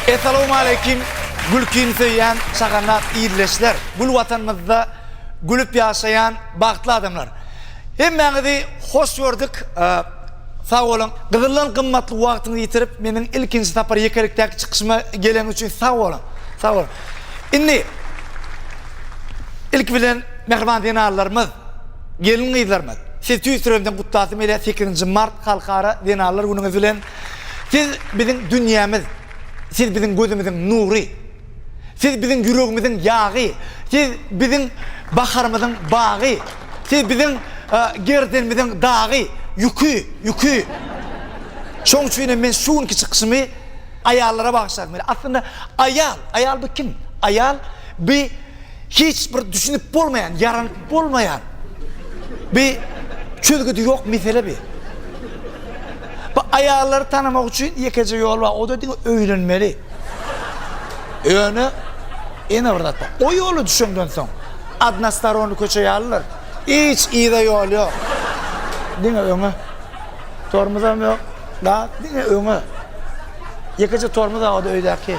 Essalawmaleýkim gülkini söýýän şaganat ildeşler, gül Watanymyzda gülüp ýaşaýan bagtly adamlar! Hemmäňizi hoş gördük. Sag boluň. Gyzyldan gymmatly wagtyňyzy ýitirip, meniň ilkinji sapar ýekelikdäki çykyşyma geleniňiz üçin sag boluň. Sag boluň. Indi ilki bilen mähriban zenanlarymyz, gelin-gyzlarymyz, sizi tüýs ýüregimden gutlasym gelýär sekizinji mart Halkara zenanlar günüňiz bilen. Siz biziň dünýämiz, siz biziň gözümiziň nury. Siz biziň ýüregimiziň ýagy, Siz biziň baharymyzyň bagy, Siz biziň gerdenimiziň dagy, ýüki, ýüki. Şoň üçinem men şu günki çykyşymy aýallara bagyşlagym gelýär. Aslynda aýal, aýal bu kim? Aýal bi Hiç bir düşünip bolmaýan ýaranyp bolmaýan bi çözgüdi ýok mesele bi. Bu aýallary tanamak üçin ýekeje ýol bar o da diňe öýlenmeli. Ýöne ýene bir zat bar. O ýola düşenden soň adnastaronny köçe ýalydyr. Hiç yza ýol ýok. Diňe öňe. Tormuzam ýok. Gaz diňe öňe. Ýekeje tormuz bar o da öýdäki.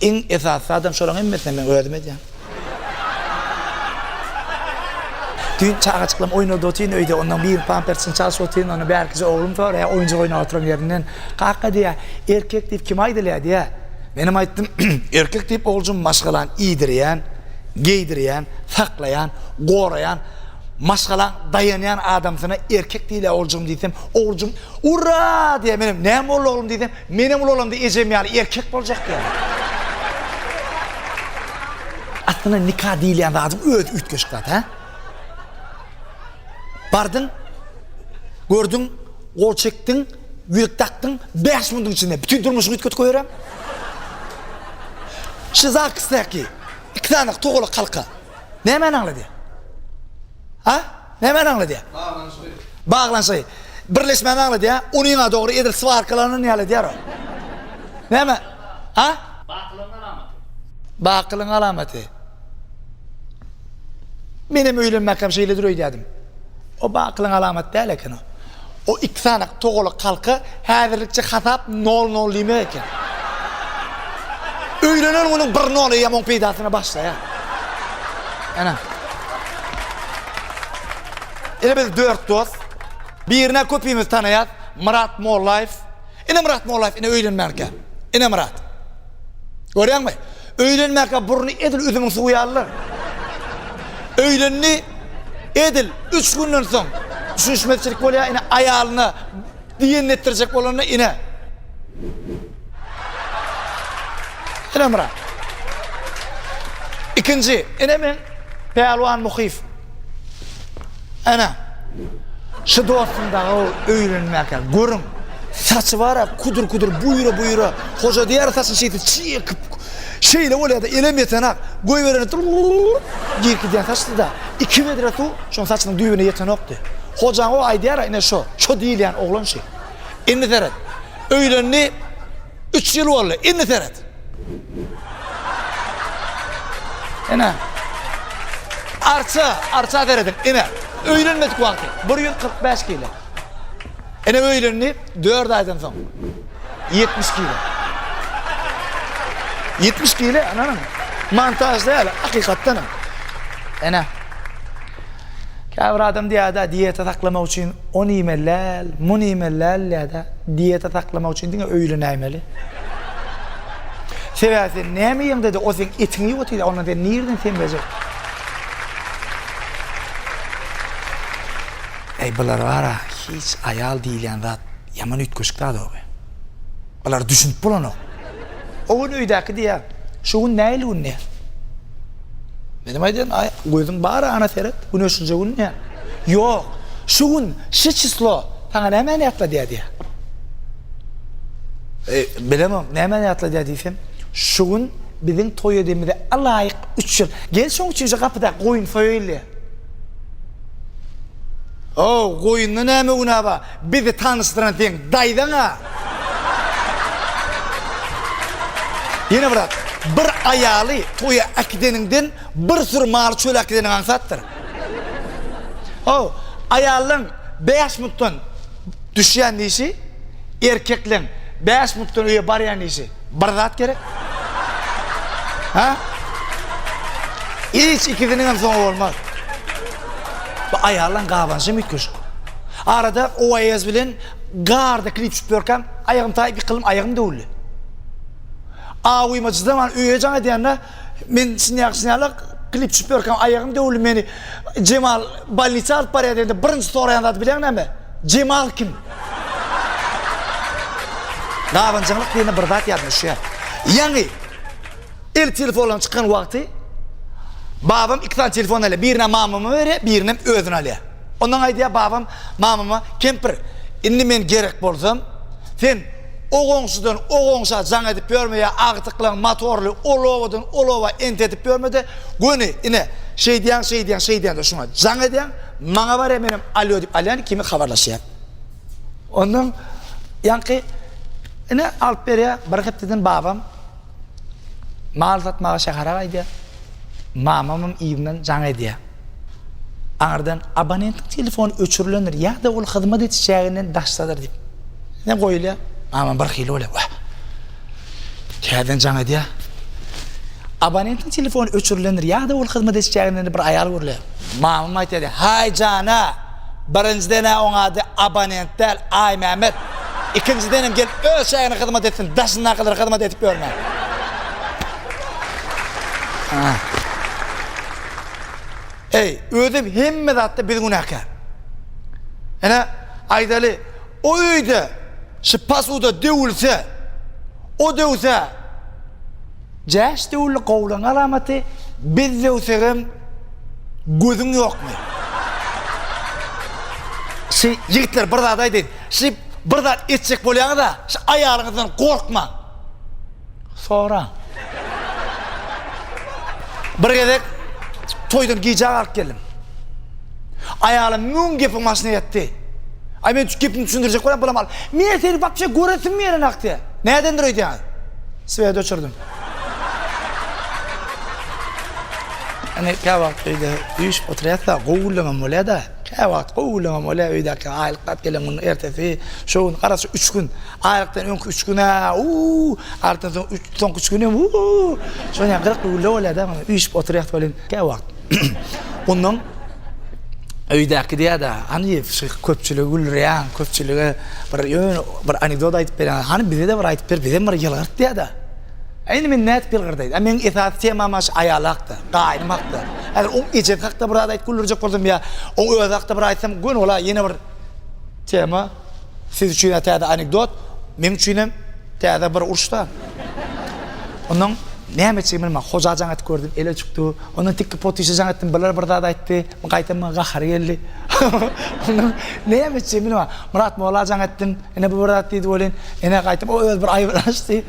Iň esasy adam şolaň hemmesine men özüm edýän. Düýn çagajyklam oýnady otyn öýde, ondan biri pampersini çalşyp otyn, ondan bärkisi oglum soraýar, oýunjak oýnap oturan ýerinden, Kaka diýýär, erkek diýip kime aýdylýar diýýär. Menem aýtdym, Erkek diýip oguljym maşgalany iýdirýän, geýdirýän, saklaýan, goraýan, maşgalaň daýanýan adamsyna erkek diýilýär oguljygym diýsem, oguljym Urra! diýýär, menem Näme boldy oglum diýsem, Menem ulalamda ejem ýaly erkek boljak ýaly. Aslynda nika diýilýän zadyň özi üýtgeşik zat hä? Bardyň, gördüň, gol çekdiň, ýüzük dakdyň, bäş minutiň içinde bütin durmuşyňy üýtgedip goýberem. Şu Zaksdäki iki sany togalak halka Nämäni aňladýar? Ha? Nämäni aňladýar? Baglanyşygy. Baglanyşygy. Birleşmäni aňladýar. Unyňa dogry edil swarkalanyny aňladýar o. Näme? Ha? Bakylygyň alamaty. Bakylygyň alamaty. Menem öýlenmäkäm şeýledir öýdýädim. Oba akylyň alamaty däl eken-ow. O iki sany togalak halka häzirlikçe hasap nol-nol diýmek eken. Öýlenen günüň bir nol eýýäm oň peýdasyna başlaýar. Ene. Ine biz dört dost. Birini-ä köpimiz tanaýas, Myrat Mollaýew. Inemyrat Mollaýew ine öýlenmänkä. Inemyrat. Görýäňmi? Öýlenmänkä burny edil üzümiň suwy ýalylar. Öýlendi, edil üç günden soň düşünişmezçilik bolýar, ine aýalyna diýenini etdirjek bolanda ine. Inemyrat. Ikinji, ine men Pälwan Muhyýew. Ana. Şu dostum daga öýlenmäkä. Görüň. Saçy bara kudur kudur buýra buýra. Hoja diýer saçy şeýti çekip. Şeýle bolýar da elem ýetenak. Goý beren dur. Girip gidýär saçy da. Iki bedre suw şoň saçynyň düýbüne ýetenokdy. Hojaň o aýdýar ine şo. Şo diýilýän oglan şi. Indi seret. Öýlendi. Üç ýyl boldy, indi seret. Ene. Arça, arça serediň, ene. Öýlenmedik wagty, bir ýüz kyrk bäş kilo. Ene öýlendi, dört aýdan soň. Ýetmiş kilo. Ýetmiş kilo, ananyň. Montaj däl, hakykatdanam. Ene. Käbir adam diýýär-dä, dieta saklamak üçin ony iýmeli-läl, muny iýmeli-läl diýýär-dä. Dieta saklamak üçin diňe öýlenäýmeli. Sebäbi sen näme iýeňde-de, o seň etiňi iýip otyr-da, ondan sen nireden semrejek? Äý, bular bar-a, hiç aýal diýilýän zat ýaman üýtgeşik zat-ow. Bulara düşünip bolanok. O gün öýdäki diýýär, Şu gün nähili gün diýýär. Menem aýdýan, Aý, gözüň bar ana seret, güne şunça gün diýýär. Ýok, şu gün, şu çislo saňa nämäni ýatladýar diýýär. E, bilemok, nämäni ýatladýar diýsem, Şu gün biziň toý edemize alaýyk üç ýyl. Gel şoň üçin şu gapydaky goýun soýaýyl diýýär. Ho, goýunda näme günä bar? Bizi tanyşdyran seň daýzaň a. Ýene bir zat, bir aýaly toýa äkideniňden bir süri maly çöle äkideniň aňsatdyr. Haw, aýallaň bäş minutdan düşýän işi, erkekleň bäş minutdan öýe barýan işi bir zat gerek. Hä? Hiç ikisiniňem soňy bolmaz. Bu aýallaň gabanşam üýtgeşik. Arada Oaez bilen Garda klip çykyp ýörkäm, aýagym taýyp ýykyldym, aýagym döwüldi. Awyma çydaman öýe jaň edýände, men çynýa-çynýala klip çykyp ýörkäm, aýagym döwüldi, meni Jemal bolnisa alyp barýar diýende, birinji soraýan zady bilýäň näme? Jemal kim? Gabanjaňlyk diýende bir zat ýadyma düşýär. Ýaňy. Ilk telefonlaryň çykan wagty babam iki sany telefon alýar. Birini mamama berýär, birinem özüne alýar. Ondan aýdýar babam mamama, Kempir, indi men gerek bolsam, sen o goňşudan o goňşa jaň edip ýörme ýa agtyklaň motorly ol obadan ol oba entetip ýörme-de, göni, ine, şeýdýäň, şeýdýäň, şeýdýäň-de şuňa jaň edýäň, maňa barýar, menem alýo diýip alýan kimi habarlaşýar. Ondan ýaňky, ine, alyp berýär. Bir hepdeden babam. Mal satmaga şähere gaýdýar. Mamamam yzyndan jaň edýär. Aňyrdan abonentiň telefony öçürilendir ýa-da ol hyzmat ediş çäginden daşdadyr diýip. Ýene goýulýar. Mamam birhili bolýar. Wah! Täzeden jaň edýär. Abonentiň telefony öçürilendir ýa-da ol hyzmat ediş çäginden bir aýal görülýär. Mamam aýtýar, Haý jana! Birinjidenä oň ady abonent däl Aýmämmet. Ikinjidenem gelip öz çägine hyzmat etsin daşyndakylara hyzmat edip ýörmän. Eý, özem hemme zatda biz günäkär. Ine, aýdaly, o öýde şu pasuda döwülse, o döwse, Jäş döwli gowlaň alamaty biz döwsegem gözüň ýokmy. Şi ýigitler bir zat aýdaýyn şi bir zat etjek bolýaňyza şi aýalyňyzdan gorkmaň soraň. Bir gezek toýdan gijä galyp geldim. Aýalym müň gepiň başyny etdi. Aý men şu gepimi düşündirjek bolýan bulam al. Men seni wapşe göresim gelenok diýýä. Nädendir öýdýäňiz? Swet öçürdim. Ine käwagt öýde üýşüp oturýasda gowy gürlemem bolýada. Käwagt gowy gürlemem bolýa öýdäki aýlyk bat gelen gün ertesi şo gün garaşy üç gün. Aýlykdan öňki üç gün a uuu aýlykdan soň üç soňky üç gün hem uuu şonýa gyzykly gürle bolýada. Üýşüp oturýas welin käwagt. Ondan öýdäki diýýär-de, hany şu köpçüligi güldürýäň, köpçülige bir ýöne bir anekdot aýdyp berýäň, hany bize-de bir aýdyp ber, bizem bir ýylgyrt diýýär-de. Äý indi men nädip ýylgyrdaýyn? Ä meniň esasy temam aş aýal hakda, gaýnym hakda. Häzir oň ejesi hakda bir zat aýdyp güldürjek bolsam ýa oň özi hakda bir aýtsam göni bol-a ýene bir tema. Siz üçin-ä täze anekdot, meň üçinem täze bir uruş-da. Ondan näme etjegimi bilmän, Hoja jaň edip gördüm, ele çykdy. Ondan tikki potyşa jaň etdim, birler bir zat aýtdy. Gaýtam maňa gahary geldi. Ondan näme etjegimi bilmän, Myrat molla jaň etdim, ine bu bir zat diýdi welin, ine gaýtam o özi bir aýy bilen açdy.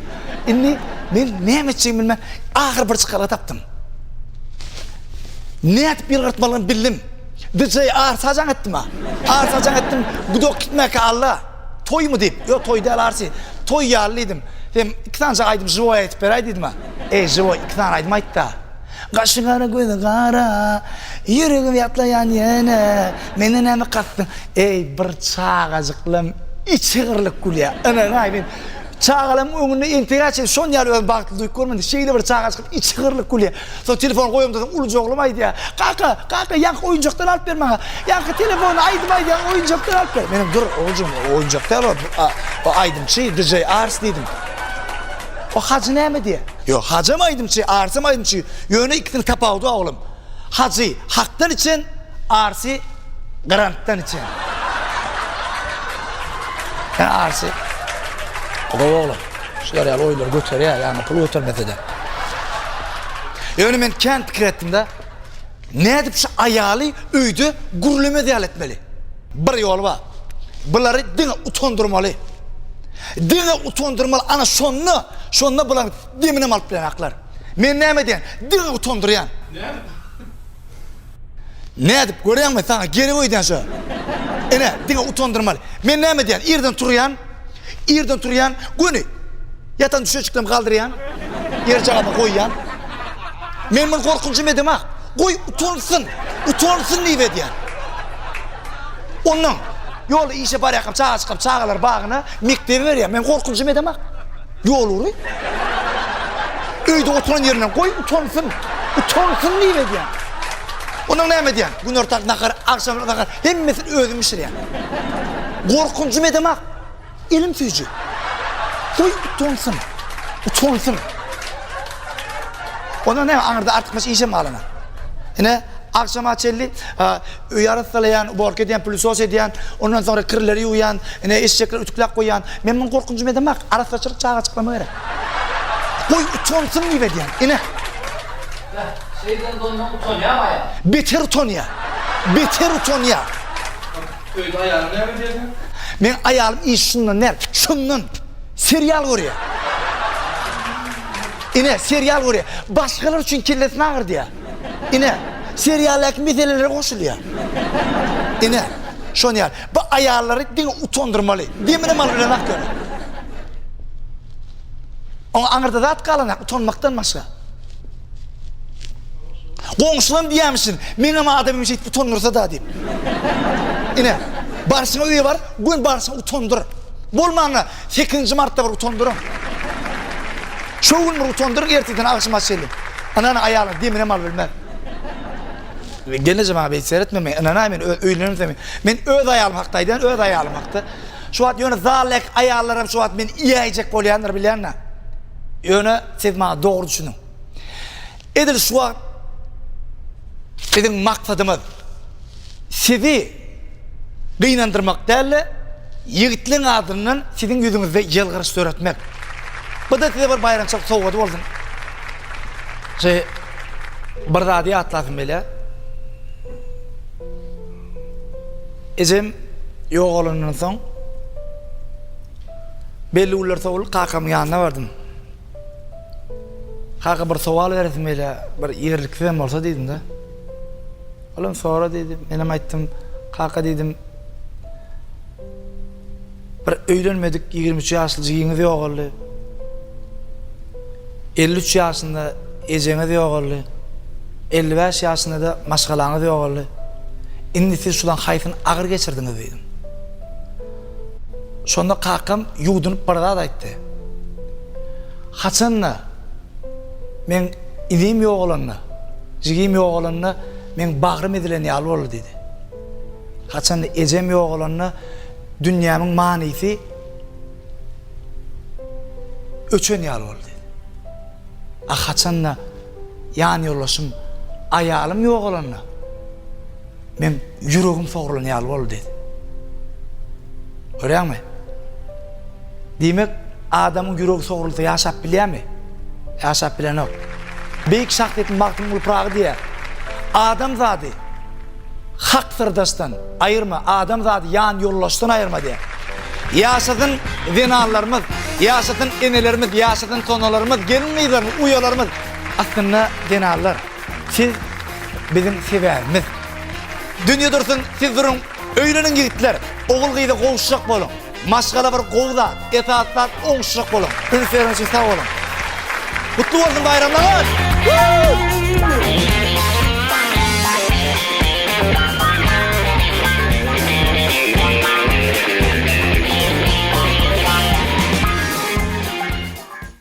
Indi men näme etjegimi bilmän, ahyry bir çykalga tapdym. Nädip ýylgyrtmalymy bildim. DJ arsa jaň etdima? Arsa jaň etdim, gudak gitmäkä Alla. Toýmy diýip, ýok toý däl arsy. Toý ýaly diýdim. Sen iki sanjak aýdym žiwoý aýdyp beräý diýdima? Eý žiwoý iki sany aýdym aýtda. Gaşy gara gözi gara, ýüregim ýatlaýan ýene, menden näme kasdyň? Eý bir çagajyklam içi gyrlyp gülýä. Ynanaý men çagalaryň öňünde entegä çenli şon ýaly özümi bagtly duýup görmedim. Şeýle bir çagajykam içi gyrlyp gülýä. Soň telefony goýaňda soň uluja oglum aýdýar, Kaka, kaka, ýaňky oýunjakdan alyp ber maňa. Ýaňky telefony aýdym aýdýan oýunjakdan alyp ber. Menem, Dur, oguljygym, o oýunjak däl ol, o aýdymçy, DJ Ars diýdim. O Hajy näme diýýär? Ýok, Hajam aýdymçy, Arsam aýdymçy, ýöne ikisiniň tapawudy bar, oglum. Hajy hakdan içen, Arsy grantdan içen. Ýa Arsy gowy oglan. Şular ýaly oýlar göterýär, ýagny pul götermese-de. Ýöne men kän pikir etdim-de, nädip şu aýaly öýde gürlemez ýaly etmeli? Bir ýoly bar. Bulary diňe utandyrmaly. Diňe utandyrmaly, ana şonda, şonda bularyň deminem alyp bilenoklar. Men näme edýän? Diňe utandyrýan. Näme? Nädip göreňmi saňa gerek öýdýän şo. Ine diňe utandyrmaly. Men näme diýän irden turýan. Irden turýan göni. Ýatan düşeçiklerimi galdyrýan. Ýer jagama goýýan. Men muny gorkunjym edema. Goý utansyn. Utansyn diýip edýän. Ondan ýolda işe barýakam çaga çykam çagalar bagyna mekdebe berýän. Men gorkunjym edema. Ýol ury. Öýde oturan ýerine goý utansyn. Utansyn diýip edýän. Ondan näme edýän? Günortak nahar, agşam nahar hemmesini özüm bişirýän. Gorkunjym edemak. Elim süýji. Goý utansyn. Utansyn. Ondan näme aňyrda artykmaç işem galana. Ine agşama çenli Öýi arassalaýan, uborka edýän, pülisos edýän, ondan soňra kirleri ýuwýan, ine, eşekleri ütükläp goýýan. Men muňa gorkunjymy edemok. Arassaçylyk çagaçyklama gerek. Goý, utanypsyň diýip edýän. Ine. Beh, şeýdibem doýman utanýamy aýal? Beter utanýa. Beter utanýa. Öýde aýalyňy näme edýärsiň? Meň aýalym iş şundan däl, şundan. Serial görýä. Ine, serial görýä. Başgalar üçin kellesini agyrtýa. Ine, serialdaky meselelere goşulýar. Ine, şony ýaly. Bu aýallary diňe utandyrmaly. Deminem alyp bilenok ýöne. Oňa aňyrda zat galanok utanmakdan başga. Goňşulam diýýämişin, meňem adamym şeýdip utandyrsa-da diýip. Ine, barşyňa öýe bar, göni barşyňa utandyr. Bolmanda, Sekizinji martda bir utandyryn. Şo gün bir utandyryn ertirden agşama çenli. Ynanyň aýalyň deminem alyp bilmez. Gelneje maňa beýt seretme men ynanaý men öýlenemsem men öz aýalym hakda aýdýan öz aýalym hakda. Şu wagt ýöne zaldaky aýallaram şu wagt meni iýäýjek bolýandyr bilýäňdä. Ýöne siz maňa dogry düşüniň. Edil şu wagt biziň maksadymyz sizi gynandyrmak däl-de, ýigitligiň adyndan siziň ýüzüňizde ýylgyryş döretmek. Bu-da size bir baýramçylyk sowgady bolsun. Şeý, bir zady ýatlasym gelýär. Ejem ýogalandan soň, belli günler sowulyp kakamyň ýanyna bardym. Kaka bir sowal beresim gelýä, bir ýerliksizem bolsa diýdim-de. Olam sora diýdi. Menem aýtdym, kaka diýdim. Bir öýlenmedik ýigrimi üç ýaşly jigiňiz ýogaldy. Elli üç ýaşynda ejeňiz ýogaldy. Elli bäş ýaşynda-da maşgalaňyz ýogaldy. Indi siz şulaň haýsyny agyr geçirdiňiz diýdim. Şonda kakam ýuwdunyp bir zat aýtdy. Haçan-da meň inim ýogalanda, jigim ýogalanda meň bagrym ezilen ýaly boldy diýdi. Haçan-da ejem ýogalanda dünýämiň manysy öçen ýaly boldy diýdi. A haçan-da ýanýoldaşym, aýalym ýogalanda, Meň ýüregim sogrulan ýaly boldy diýdi. Görýäňmi? Diýmek, adamyň ýüregi sogrulsa ýaşap bilýärmi? Ýaşap bilenok. Beýik şahsyýet Magtymguly Pyragy diýýär, Adamzady hak syrdaşdan aýyrma, adamzady ýan ýoldaşdan aýyrma diýýär. Ýaşasyn zenanlarymyz, ýaşasyn enelerimiz, ýaşasyn sonalarymyz, gelin-gyzlarymyz, uýalarymyz, aslynda zenanlar. Siz biziň sebäbimiz. Dünýe dursun, siz duruň. Öýleniň ýigitler, ogul-gyza gowuşjak boluň. Maşgala bir gowy zat, esasy zat oňuşjak boluň. Üns bereniň üçin sag boluň. Gutly bolsun baýramlaryňyz!